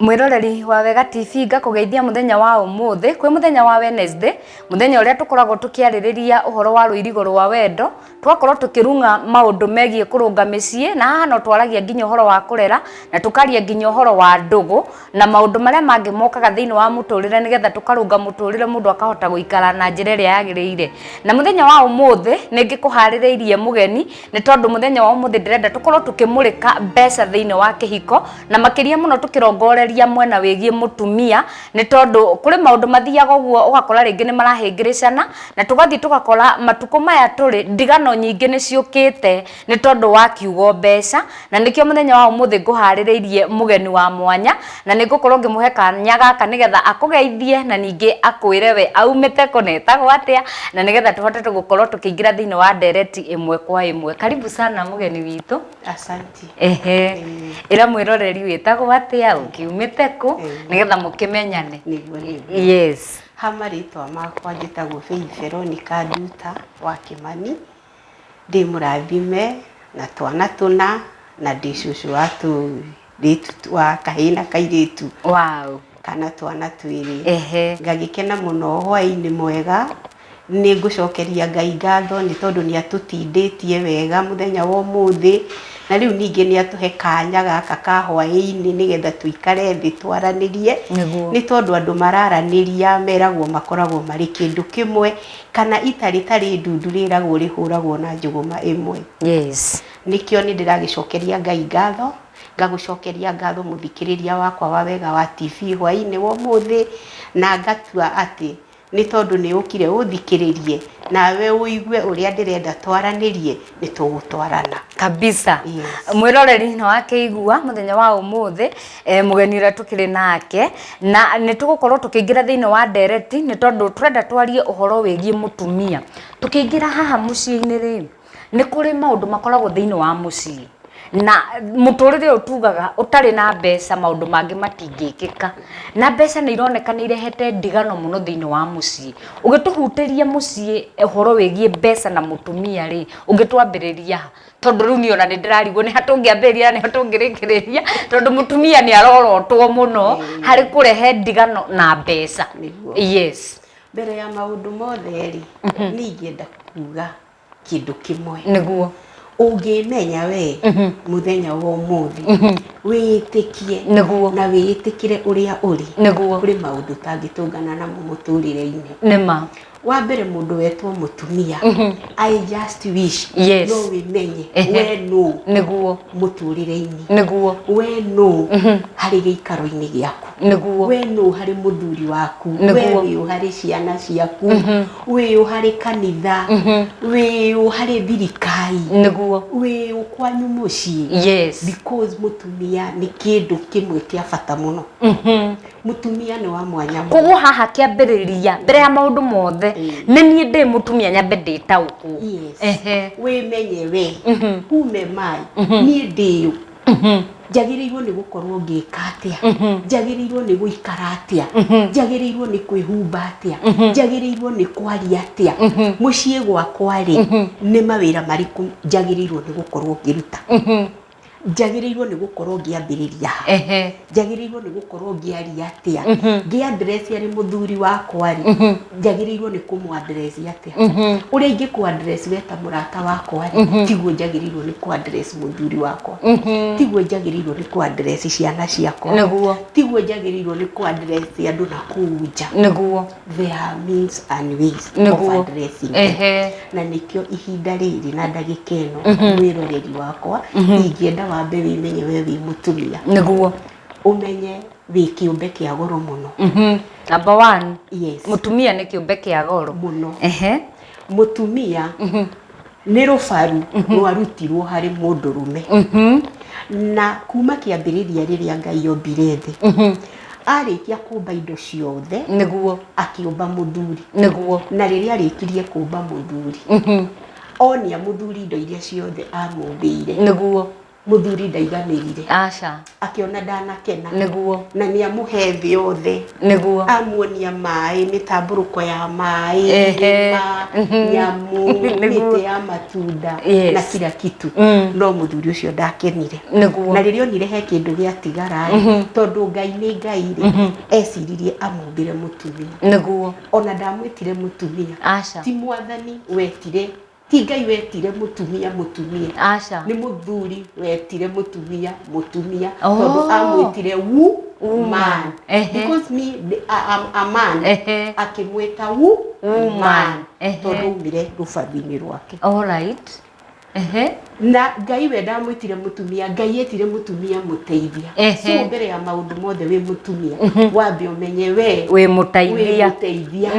mwiroreri wa wega tv ngakũgeithia muthenya wa umuthi kwi muthenya wa wednesday muthenya uria tukoragwo tukiaririria uhoro wa ruirigo rwa wendo twakorwo tukirunga maundu megie kurunga micie na haha no twaragia nginya horo wa kurera na tukaria nginya horo wa ndugu na maundu maria mangi mokaga thiini wa muturire nigetha tukarunga muturire mundu akahota guikara na njira iria yagirire na muthenya wa umuthi ningikuhaririirie mugeni ni tondu muthenya wa umuthi ndirenda tukorwo tukimurika mbeca thiini wa kihiko na makiria muno tukirongoreria mwena wigie mutumia nĩ tondũ kũrĩ maũndũ mathiaga ũguo ũgakora rĩngĩ nĩ marahĩngĩrĩcana na tũgathiĩ tũgakora matukũ maya tũrĩ ndigano nyingĩ nĩ ciũkĩte nĩ tondũ wa kiugo mbeca, na nĩkĩo mũthenya wa ũmũthĩ ngũharĩrĩirie mũgeni wa mwanya na nĩ ngũkorwo ngĩmũhe kanya gaka nĩgetha akũgeithie na ningĩ akwĩre we aumĩte kũ na etagwo atĩa na nĩgetha tũhote gũkorwo tũkĩingĩra thĩinĩ wa ndereti ĩmwe kwa ĩmwe. Karibu sana mũgeni witũ. Asanti. Ehe. Ĩra mwĩroreri wĩtagwo atĩa, ũkiumĩte kũ, nĩgetha mũkĩmenyane. Nĩguo nĩguo. Yes. Ha marĩtwa makwa njĩtagwo Faith Veronica Nduta wa Kĩmani. Ndĩ mũrathime na twana tũna na ndĩ cũcũ wa tũũi. kairĩtu twa kahĩĩ na kairĩtu wow. kana twana twĩrĩ ehe ngagĩkena mũno hwaĩ-inĩ mwega nĩ ngũcokeria ngai ngatho nĩ tondũ nĩ atũtindĩtie wega mũthenya wa ũmũthĩ na rĩu ningĩ nĩ atũhe kanya gaka ka hwaĩ-inĩ nĩgetha tũikare thĩ twaranĩrie Nĩguo. nĩ tondũ andũ mararanĩria meragwo makoragwo marĩ kĩndũ kĩmwe kana ita rĩtarĩ ndundu rĩragwo rĩhũragwo na njũgũma ĩmwe yes Nĩkĩo nĩ ndĩragĩcokeria Ngai ngatho, ngagũcokeria ngatho mũthikĩrĩria wakwa wa Wega wa TV hwaĩ-inĩ wa ũmũthĩ, na ngatua atĩ nĩ tondũ nĩ ũkire ũthikĩrĩrie, nawe ũigue ũrĩa ndĩrenda twaranĩrie, nĩ tũgũtwarana. Kabisa. Yes. Mwĩroreri nĩ wakĩigua mũthenya wa ũmũthĩ eh, mũgeni ũrĩa tũkĩrĩ nake na nĩ tũgũkorwo tũkĩingĩra thĩinĩ wa ndereti nĩ tondũ tũrenda twarie ũhoro wĩgiĩ mũtumia. Tũkĩingĩra haha mũciĩ-inĩ rĩ, Nĩ kũrĩ maũndũ makoragwo thĩiniĩ wa mũciĩ na mũtũrĩre ũyũ tugaga ũtarĩ na mbeca maũndũ mangĩ matingĩkĩka. Na mbeca nĩ ironeka nĩ irehete ndigano mũno thĩiniĩ wa mũciĩ. Ũngĩtũhutĩria mũciĩ ũhoro wĩgiĩ mbeca na mũtumia rĩ, ũngĩtwambĩrĩria ha? Tondũ rĩu niĩ ona nĩ ndĩrarigwo nĩ ha tũngĩambĩrĩria na nĩ ha tũngĩrĩkĩrĩria, tondũ mũtumia nĩ arorotwo mũno harĩ kũrehe ndigano na mbeca. Yes. Mbere ya maũndũ mothe rĩ, niĩ ingĩenda kuga kĩndũ kĩmwe nĩguo ũngĩmenya we mũthenya wa ũmũthĩ wĩĩtĩkie Nĩguo. na wĩĩtĩkĩre ũrĩa ũrĩ Nĩguo. kũrĩ maũndũ ũtangĩtũngana namo mũtũrĩre-inĩ nĩma wa mbere mũndũ wetwo mũtumia i just wish Yes. no wĩmenye Ehe. we nũ nĩguo mũtũrĩre-inĩ nĩguo we nũ harĩ gĩikaro-inĩ gĩaku nĩguo we nũ harĩ mũthuri waku we Nĩguo. wĩ ũ harĩ ciana ciaku wĩ ũ harĩ kanitha wĩ ũ harĩ thirikari nĩguo wĩ ũ kwanyu mũciĩ yes because mũtumia nĩ kĩndũ kĩmwe kĩa bata mũno Mũtumia nĩ wa mwanya mũno. Koguo haha kĩambĩrĩria mbere ya maũndũ mothe nĩ niĩ ndĩ mũtumia nyambe ndĩtaũkwo. Yes. Ehe. Wĩmenye we. Who am I? Niĩ ndĩ ũ? Njagĩrĩirwo nĩ gũkorwo ngĩka atĩa? Njagĩrĩirwo nĩ gũikara atĩa? Njagĩrĩirwo nĩ kwĩhumba atĩa? Njagĩrĩirwo nĩ kwaria atĩa? Mũciĩ gwakwa-rĩ, nĩ mawĩra marĩkũ njagĩrĩirwo nĩ gũkorwo ngĩruta? njagĩrĩirwo nĩ gũkorwo ngĩambĩrĩria ha ehe njagĩrĩirwo nĩ gũkorwo ngĩaria atĩa ngĩandress arĩ mũthuri wakwa rĩ njagĩrĩirwo nĩ kũmwandress atĩa ũrĩa ingĩkwandress we ta mũrata wakwa rĩ tiguo njagĩrĩirwo nĩ kwandress mũthuri wakwa tiguo njagĩrĩirwo nĩ kwandress ciana ciakwa nĩguo tiguo njagĩrĩirwo nĩ kwandress andũ na kũu nja nĩguo there are means and ways Nĩguo. of addressing Ehe. na nĩkĩo ihinda rĩrĩ na ndagĩka ĩno wĩroreri wakwa ingĩenda wambe wĩmenye we wĩ mũtumia nĩguo ũmenye wĩ kĩũmbe kĩa goro mũno Mhm. number one yes mũtumia nĩ kĩũmbe kĩa goro mũno Ehe. mũtumia nĩ rũbaru rwarutirwo harĩ mũndũrũme na kuma kĩambĩrĩria rĩrĩa ngai ombire thĩ arĩkia kũmba indo ciothe nĩguo akĩũmba mũthuri nĩguo na rĩrĩa arĩkirie kũmba mũthuri onia mũthuri indo iria ciothe amũmbĩire nĩguo mũthuri ndaiganĩrire aca akĩona ndanakena nĩguo na nĩ amũhe thĩ yothe nĩguo amuonia maĩ mĩtambũrũko ya maĩ Ehe. irĩma nyamũ Nĩguo. mĩtĩ ya matunda Yes. na kira kitu Mm. no mũthuri ũcio ndakenire Nĩguo. na rĩrĩa onire he kĩndũ gĩatigara tondũ ngai nĩ ngai rĩ eciririe amumbĩre mũtumia nĩguo ona ndamwĩtire mũtumia aca ti mwathani wetire Ti Ngai wetire mũtumia mũtumia. Aca. Nĩ mũthuri wetire mũtumia mũtumia Oh. tondũ amwĩtire wu Woman. man. Ehe. Because me the- a- am- a man Ehe. akĩmwĩta wu Woman. man Ehe. tondũ aumire rũbaru-inĩ rwake. All right. Ehe. na ngai we ndamwĩtire mũtumia ngai etire mũtumia mũteithia Ehe. so mbere ya maũndũ mothe wĩ mũtumia wambe ũmenye we wĩ wĩ mũteithia mũteithia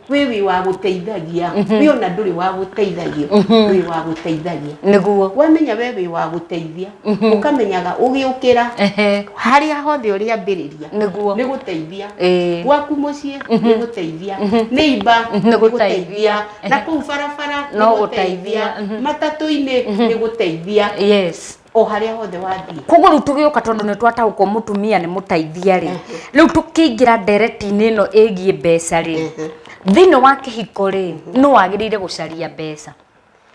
wĩ wĩ wa gũteithagia wĩ ona ndũrĩ wa gũteithagio wĩ wa gũteithagia nĩguo wamenya we wĩ wa gũteithia ũkamenyaga ũgĩũkĩra Ehe. harĩa hothe ũrĩ ambĩrĩria Nĩguo. nĩ gũteithia Ĩĩ. gwaku mũciĩ nĩ gũteithia nĩ imba Nĩ gũteithia. na kuu barabara nĩ No gũteithia. gũteithia matatũ-inĩ nĩ gũteithia yes o harĩa hothe wathiĩ koguo rĩu tũgĩũka tondũ nĩ twataũkwo mũtumia nĩ mũteithia rĩ rĩu tũkĩingĩra ndereti-inĩ ĩno ĩgiĩ mbeca rĩ thĩinĩ wa kĩhiko rĩ nũ wagĩrĩire gũcaria mbeca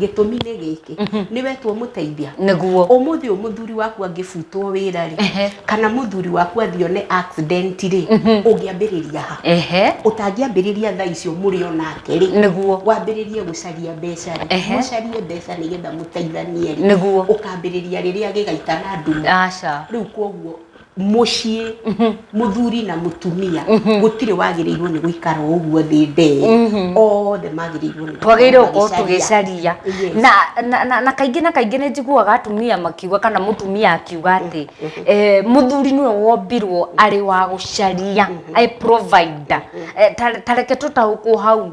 gĩtũmi nĩ gĩkĩ nĩ wetwo mũteithia nĩguo ũmũthĩ ũyũ mũthuri waku angĩbutwo wĩra rĩ Ehe. kana mũthuri waku athione accident rĩ ũngĩambĩrĩria ha ehe ũtangĩambĩrĩria thaa icio mũrĩ o nake rĩ nĩguo wambĩrĩrie gũcaria mbeca rĩ Ehe. mũcarie mbeca nĩgetha mũteithanie rĩ Nĩguo. ũkambĩrĩria rĩrĩa gĩgaita na nduma aca rĩu koguo mũciĩ mũthuri na mũtumia gũtirĩ wagĩrĩirwo nĩ gũikara o ũguo thĩ ndee othe magĩrĩirwo nĩ twagĩrĩirwo gũkorwo tũgĩcaria Yes. na, na, na, na kaingĩ na kaingĩ nĩ njiguaga atumia makiuga kana mũtumia akiuga atĩ eh, mũthuri nĩwe wombirwo arĩ wa gũcaria I provider Eh, ta- ta reke tũtaũkwo hau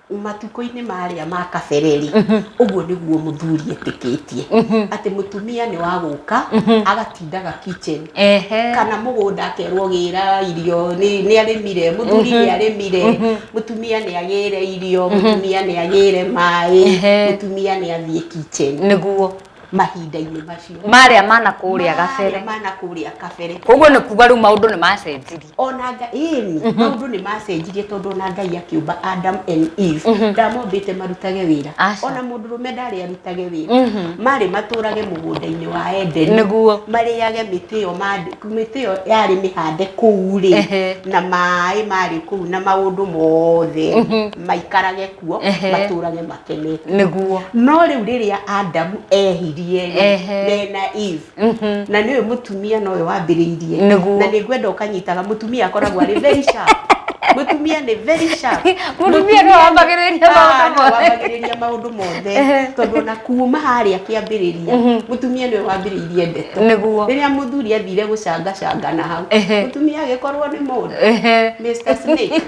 Matukũ-inĩ marĩa ma kabere rĩ, ũguo nĩguo mũthuri etĩkĩtie. Atĩ mũtumia nĩ wa gũka, agatindaga kitchen. Ehe. Kana mũgũnda akerwo gĩra irio, nĩ nĩ arĩmire, mũthuri nĩ arĩmire, mũtumia nĩ agĩre irio, mũtumia nĩ agĩre maĩ, Ehe. mũtumia nĩ athiĩ kitchen. Nĩguo. mahinda-inĩ macio marĩa mana kũrĩa gabere Marĩa mana kũrĩa kabere koguo nĩ kuga rĩu maũndũ nĩ macenjirie ona nga ĩni maũndũ nĩ macenjirie tondũ ona ngai akĩũmba adam and eve ndamombĩte marutage wĩra Aca. ona mũndũ rũme ndarĩ arutage wĩra marĩ matũrage mũgũnda-inĩ wa edeni Nĩguo. marĩage mĩtĩ ĩyo mandĩ- mĩtĩ ĩyo yarĩ mĩhande kũu rĩ Ehe. na maĩ marĩ kũu na maũndũ mothe maikarage kuo Ehe. matũrage makenete nĩguo no rĩu rĩrĩa adamu ehirie Ehe. mena eve Mhm. na nĩwe mũtumia nowe wambĩrĩirie Nĩguo. na nĩ ngwenda ũkanyitaga mũtumia akoragwo arĩ very sharp mũtumia nĩ very sharp Mũtumia nĩwe wambagĩrĩria maũndũ Ah, nĩwe mothe. wambagĩrĩria maũndũ mothe Ehe. tondũ ona kuma harĩa kĩambĩrĩria Mhm. mũtumia nĩwe wambĩrĩirie ndeto nĩguo rĩrĩa mũthuri athire gũcangacanga na hau Ehe. mũtumia agĩkorwo nĩ mũndũ Mr. Snake.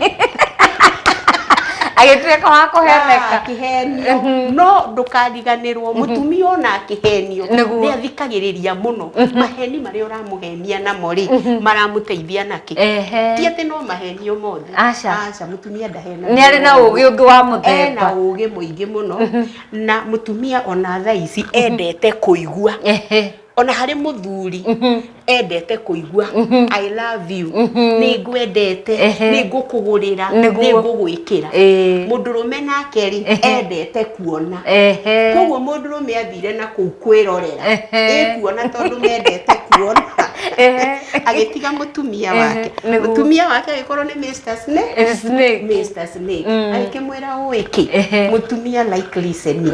agĩtuĩka wa kũheneka akĩhenio mhm. no ndũkariganĩrwo mhm. mũtumia ona akĩhenio nĩ athikagĩrĩria mũno mhm. maheni marĩa ũramũhenia namo rĩ maramũteithia nakĩ ti atĩ no mahenio mothe aca mũtumia ndahena nĩ arĩ na ũgĩ ũngĩ wa mũthemba na ũgĩ mũingĩ mũno na mũtumia ona thaa ici endete kũigua ona harĩ mũthuri mhm. endete kũigua mhm. i love you mhm. nĩ ngwendete nĩ ngũkũgũrĩra nĩ ngũgwĩkĩra mũndũ rũme nake rĩ endete kuona koguo mũndũ rũme athire na kũu kwĩrorera ĩkuona tondũ mendete kuona agĩtiga mũtumia wake mũtumia wake agĩkorwo nĩ Mr Snake Mr Snake mm. agĩkĩmwĩra ũĩ kĩ mũtumia like listening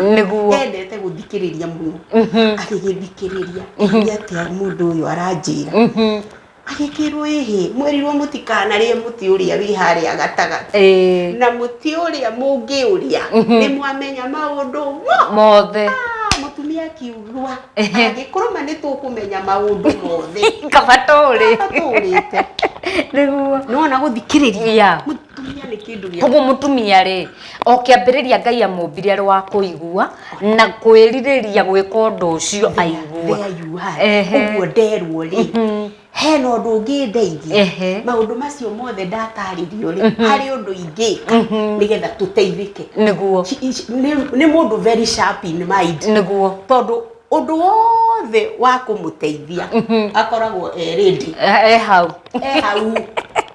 endete gũthikĩrĩria mũno agĩgĩthikĩrĩria nĩ atĩa mũndũ ũyũ aranjĩra agĩkĩrwo ĩhĩ mwerirwo mũtikanarĩe mũtĩ ũrĩa wĩ harĩa gatagatĩ Eh, na mũtĩ ũrĩa mũngĩũrĩa nĩ mwamenya maũndũ mo mothe Ah, mũtumia akiugua Ehe. angĩkũrũma nĩ tũkũmenya maũndũ mothe kaba tũrĩ Kaba tũũrĩte nĩguo nĩwona gũthikĩrĩria Yeah. mũtumia nĩ kĩndũ gĩa koguo mũtumia rĩ O kĩambĩrĩria Ngai amũmbire arĩ wa kũigua na kwĩrirĩria gwĩka ũndũ ũcio aigua. There you are. Ehe. Ũguo nderwo rĩ, hena ũndũ ũngĩ ndeithia. Ehe. Maũndũ macio mothe ndatarĩrio rĩ, harĩ ũndũ ingĩka nĩgetha tũteithĩke. Nĩguo. Ci- ici- nĩ- Nĩ mũndũ very sharp in mind. Nĩguo. Tondũ ũndũ wothe wa kũmũteithia akoragwo e ready. E e hau. E hau.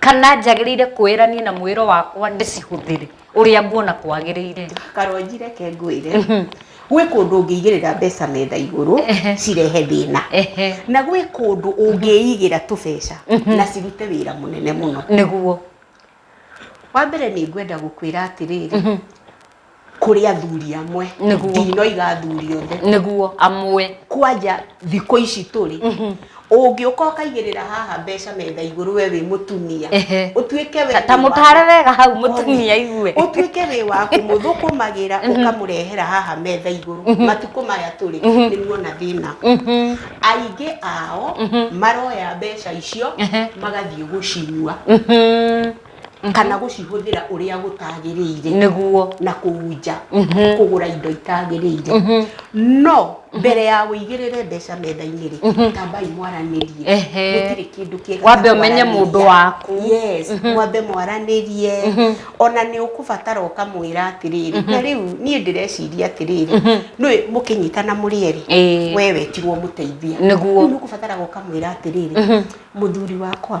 Kana njagĩrĩire kwĩra niĩ na mwĩro wakwa ndĩcihũthĩre ũrĩa nguona kwagĩrĩire? Karwanji reke ngwĩre, gwĩ kũndũ ũngĩigĩrĩra mbeca metha igũrũ cirehe thĩna, na gwĩ kũndũ ũngĩigĩra tũbeca na cirute wĩra mũnene mũno. Nĩguo. Wa mbere nĩ ngwenda gũkwĩra atĩrĩrĩ, kũrĩ athuri amwe Nĩguo. ndinoiga athuri othe nĩguo amwe kwanja thikũ ici tũrĩ ũngĩũka ũkaigĩrĩra haha mbeca metha igũrũ we wĩ mũtumia Ehe. ũtuĩke we Ta- ta wĩ wa- mũtare wega hau mũtumia aigue ũtuĩke wĩ wa kũmũthũkũmagĩra ũkamũrehera haha metha igũrũ matukũ maya tũrĩ nĩ muona thĩna Mhm. aingĩ ao maroya mbeca icio Ehe. magathiĩ gũcinyua Mhm. kana gũcihũthĩra ũrĩa gũtagĩrĩire nĩguo na kũu nja kũgũra indo itagĩrĩire no mbere ya wĩigĩrĩre mbeca metha-inĩ rĩ tambai mwaranĩrie Ehe. gũtirĩ kĩndũ kĩega Wambe ta ũmenye kwaranĩria. mũndũ waku. yes mwambe mwaranĩrie ona nĩ ũkũbatara ũkamwĩra atĩrĩrĩ na rĩu niĩ ndĩreciria atĩrĩrĩ nĩ mũkĩnyitana mũrĩ erĩ Ĩĩ. we wetirwo mũteithia Nĩguo. Rĩu nĩ ũkũbataraga ũkamwĩra atĩrĩrĩ mũthuri wakwa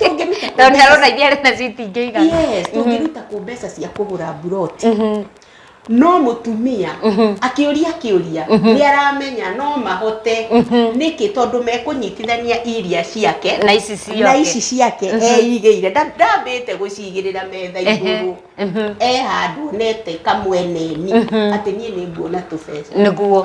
Tũngĩruta kũ tondũ nĩ arona iria arĩ nacio itingĩiga Yes, tũngĩruta kũ mbeca cia kũgũra mburoti no mũtumia akĩũria kĩũria nĩ aramenya no mahote nĩkĩ tondũ mekũnyitithania iria ciake na ici ciake na ici ciake eigĩire Nda- ndambĩte gũcigĩrĩra metha igũrũ e handũ onete kamweneni atĩ niĩ nĩ nguona tũbeca nĩguo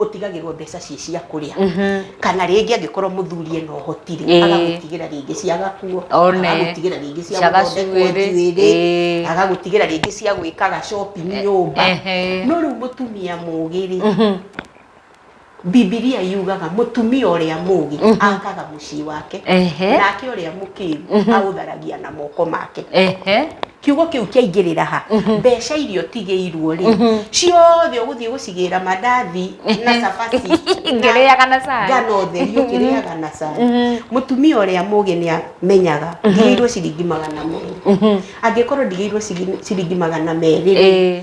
ũtigagĩrwo mbeca ciĩ cia kũrĩa kana rĩngĩ angĩkorwo mũthuri ena ũhoti rĩ Ĩĩ. agagũtigĩra rĩngĩ cia gakuo One. agagũtigĩra rĩngĩ cia Cia gũthondekwo gacuĩrĩ. njuĩrĩ Ĩĩ. agagũtigĩra rĩngĩ cia gwĩkaga shopping nyũmba ehe. no rĩu mũtumia mũgĩ rĩ bibilia yugaga mũtumia ũrĩa mũgĩ akaga mũciĩ wake Ehe. nake ũrĩa mũkĩgu aũtharagia na moko make Ehe. kiugo kĩu kĩaingĩrĩra ha mbeca iria ũtigĩirwo rĩ ciothe ũgũthiĩ gũcigĩra mandathi na cabaci Ngĩrĩaga na cai. ngano theri ũkĩrĩaga na cai mũtumia ũrĩa mũgĩ nĩ amenyaga ndigĩirwo ciringi magana merĩ angĩkorwo ndigĩirwo ciringi- ciringi magana merĩ rĩ, Ĩĩ.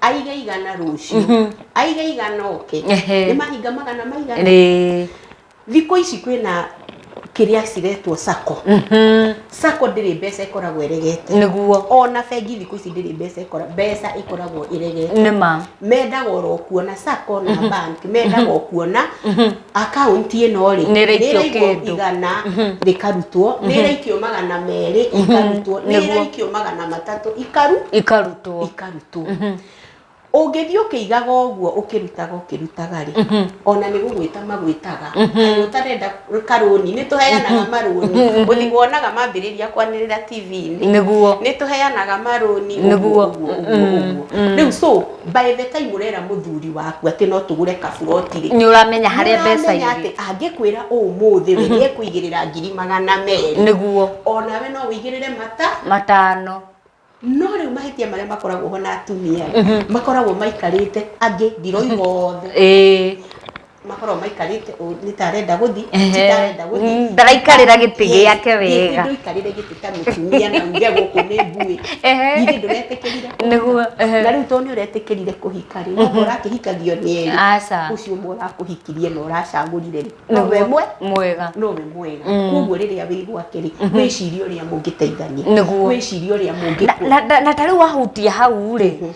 aige igana rũciũ aige igana oke Ehe. nĩ mahinga magana maigana Rĩ. thikũ ici kwĩna kĩrĩa ciretwo sako Mhm. sako ndĩrĩ mbeca ĩkoragwo ĩregete nĩguo ona bengi thikũ ici ndĩrĩ mbeca ĩkora mbeca ĩkoragwo ĩregete nĩ ma mendaga oro kuona sako na bank mendaga o kuona akaunti ĩno rĩ Nĩ ĩraikio nĩĩraigwo kĩndũ. igana rĩkarutwo nĩ ĩraikio magana merĩ ikarutwo nĩ Nĩguo. ĩraikio magana matatũ ikaru ikarutwo ikarutwo tu ũngĩthiĩ ũkĩigaga ũguo ũkĩrutaga ũkĩrutaga rĩ ona nĩ gũgwĩta magwĩtaga Kaĩ ũtarenda karũni nĩ tũheanaga marũni ũthi wonaga mambĩrĩria kwanĩrĩra tv-inĩ Nĩguo. nĩ tũheanaga marũni Nĩguo. ũguo, ũguo, ũguo, ũguo. rĩu so by the time ũrera mũthuri waku atĩ no tũgũre kaburoti rĩ nĩ ũramenya harĩa mbeca Nĩũramenya irĩ atĩ angĩkwĩra ũmũthĩ we nĩ ekũigĩrĩra ngiri magana merĩ nĩguo onawe no ũigĩrĩre mata matano No rĩu mahĩtia marĩa makoragwo ho na atumia rĩ, makoragwo maikarĩte angĩ ndiroiga othe ĩĩ makoragwo maikarĩte ũũ, nĩ ta arenda gũthiĩ Ehe. ti ta arenda gũthiĩ Mm, ndaraikarĩra gĩtĩ Yes, gĩake yes, wega. ndũikarĩre gĩtĩ ta mũtumia na uge gũkũ nĩ mbuĩ Ehe. githĩ ndũretĩkĩrire kũhika? Nĩguo, ehe. na rĩu tondũ nĩ ũretĩkĩrire kũhika rĩ nĩguo ũrakĩhikagio nĩ erĩ aca ũcio ũmwe ũrakũhikirie na ũracagũrire rĩ no we mwe mwega no we mwega mm. koguo riria wi gwake ri mhm. wicirie uria mungiteithania niguo wicirie uria mungikwo na tari wahutia hau ri mhm.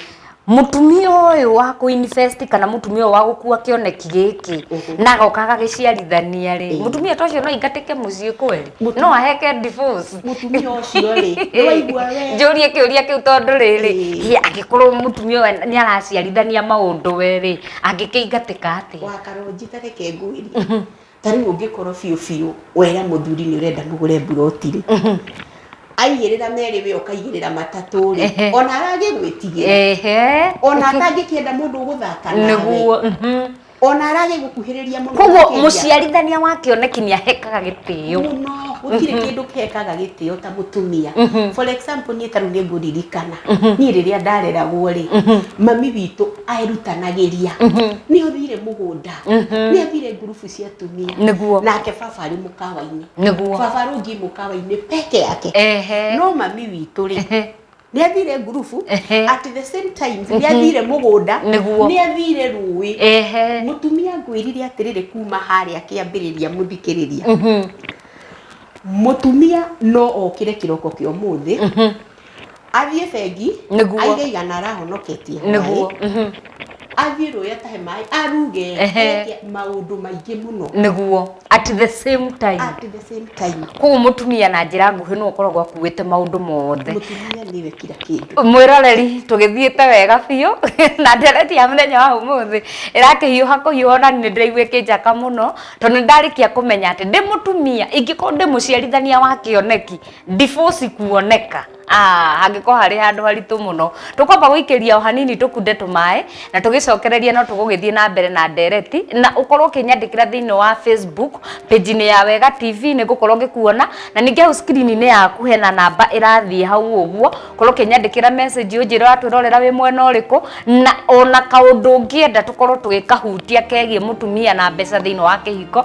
mutumia uyu wa ku invest kana mutumia wa gukua kioneki giki mhm. na goka agagiciarithania ri mutumia to cio no ingatike mucii kweri no aheke divorce mutumia ucio ri waigua we njurie kiuria kiu tondu riri angikorwo mutumia ni araciarithania maundu we ri angĩkĩingatĩka atĩa wa karũnji ta reke ngwĩrie ta rĩu ũngĩkorwo biũ biũ wera mũthuri nĩ ũrenda mũgũre mburoti rĩ aigĩrĩra merĩ we ũkaigĩrĩra matatũ rĩ Ehe. ona aragĩgwĩtigĩra ehe ona atangĩkĩenda mũndũ ũgũthaka nawe nĩguo mhm. ona aragĩgũkuhĩrĩria mũno koguo makĩria. mũciarithania wa kĩoneki nĩ ahekaga gĩtĩo mũno gũtirĩ kĩndũ kekaga gĩtĩo ta mũtumia for example niĩ tarĩu nĩ ngũririkana niĩ rĩrĩa ndareragwo rĩ mami witũ erutanagĩria nĩ athire mũgũnda nĩ athire ngurubu cia atumia Nĩguo. nake baba arĩ mũkawa-inĩ Nĩguo. baba rungi mũkawa-inĩ peke yake Ehe. no mami witũ rĩ Ehe. nĩ athire ngurubu Ehe. at the same time nĩ athire mũgũnda Nĩguo. nĩ athire rũĩ Ehe. mũtumia ngwĩrire atĩrĩrĩ kuma harĩa kĩambĩrĩria mũthikĩrĩria mũtumia no okĩre kĩroko kĩa ũmũthĩ athiĩ bengi Nĩguo. aige igana arahonoketie hwaĩ nĩguo mhm, athiĩ rũĩ atahe maĩ aruge Ehe. eke maũndũ maingĩ mũno nĩguo at the same time at the same time koguo mũtumia na njĩra nguhĩ nĩ ũkoragwo akuĩte maũndũ mothe mũtumia nĩwe kira kĩndũ mwĩroreri tũgĩthiĩte wega biũ na ndereti ya mũthenya wa ũmũthĩ ĩrakĩhiũha kũhiũha na nĩ ndĩraigua ĩkĩnjaka mũno tondũ nĩ ndarĩkia kũmenya atĩ ndĩ mũtumia ingĩkorwo ndĩ mũciarithania wa kĩoneki ndiboci kuoneka Ah, hangĩkorwo harĩ handũ haritũ mũno tũkwamba gũikĩria o hanini tũkunde tũmaĩ na tũgĩcokereria no tũgũgĩthiĩ na mbere na ndereti na ũkorwo ũkĩnyandĩkĩra thĩinĩ wa facebook page-inĩ ya wega tv nĩ ngũkorwo ngĩkuona na ningĩ hau screen-inĩ yaku hena namba ĩrathiĩ hau ũguo korwo ũkĩnyandĩkĩra message ũnjĩre watwĩrorera wĩ mwena ũrĩkũ na ona kaũndũ ũngĩenda tũkorwo tũgĩkahutia kegiĩ mũtumia na mbeca thĩinĩ wa kĩhiko